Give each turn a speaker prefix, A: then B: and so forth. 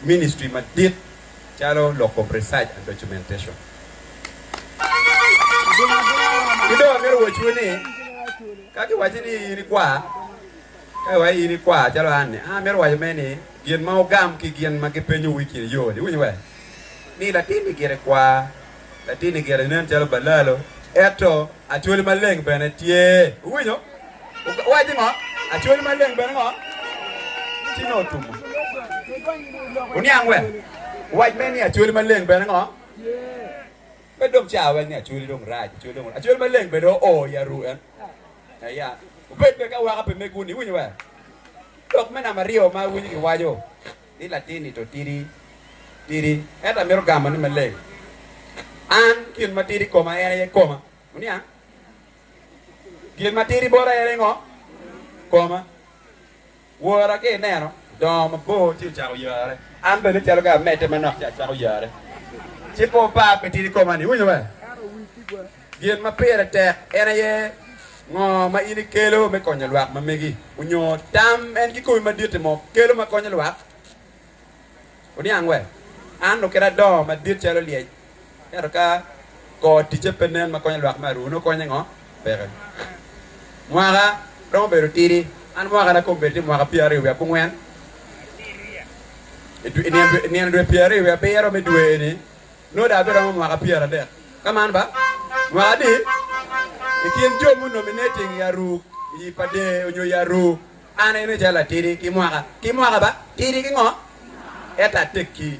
A: Ministry madit calo loko research and documentation. Ki dong amito wacciwu ni ka kiwacci ni in ikwar, ka iwacci in ikwar calo an-ni, an amito waco mere ni gin ma wugam ki gin ma gipenyowu i kin yo-ni, iwinyo we? Ni latin-ni gire kwar. Latinni gire nen calo balalo, ento Acholi Maleng bene tye. Wuwinyo? Wuwac ni ngo? Acholi Maleng bene ngo? Ci nongo otumo. Wuniang wek wac me ni Acholi Maleng bene ngo? Pe dong ca wek ni Acholi dong rac, Acholi dong rac. Acholi Maleng bene oo i aru en. Aya. Wubed bene ki awaka pi megwu-ni, iwinyo wee? Lok me namba aryo ma awinyo giwaco. ni latin-ni to tidi tidi, ento amito gamo ni maleng, An gin ma tidi i koma en aye koma. Wuniang? Gin ma tidi bota en aye ngo? Koma. Wora ka ineno odongo mabor ci ocako yare, an bene calo ka amedde manok ci acako yare, ci pe opar pi tidi koma-ni. Iwinyo be? Gin ma pire tek en aye ngo ma in ikelo me konyo lwak ma megi, onyo tam en kikomi madit ni mo kelo ma konyo lwak? Oniang we, an oketa adongo madit calo lyec, ento ka kor ticce pe nen ma konyo lwak me aruu, nongo konye ngo? Peke. Mwaka romo bedo tidi, an mwaka na kom bedo tye mwaka pyeraryo wiye abongwen, inino dwe pyeraryo wiye abiro me dwe eni Nongo dong abiromo mwaka pyeradek, ka man ba, mwaka adi? I kin jo munominating i Aruk, i Ipade, onyo i Aruk, an aine calo atidi ki mwaka, ki mwaka ba, tidi ki ngo? Ento atekki.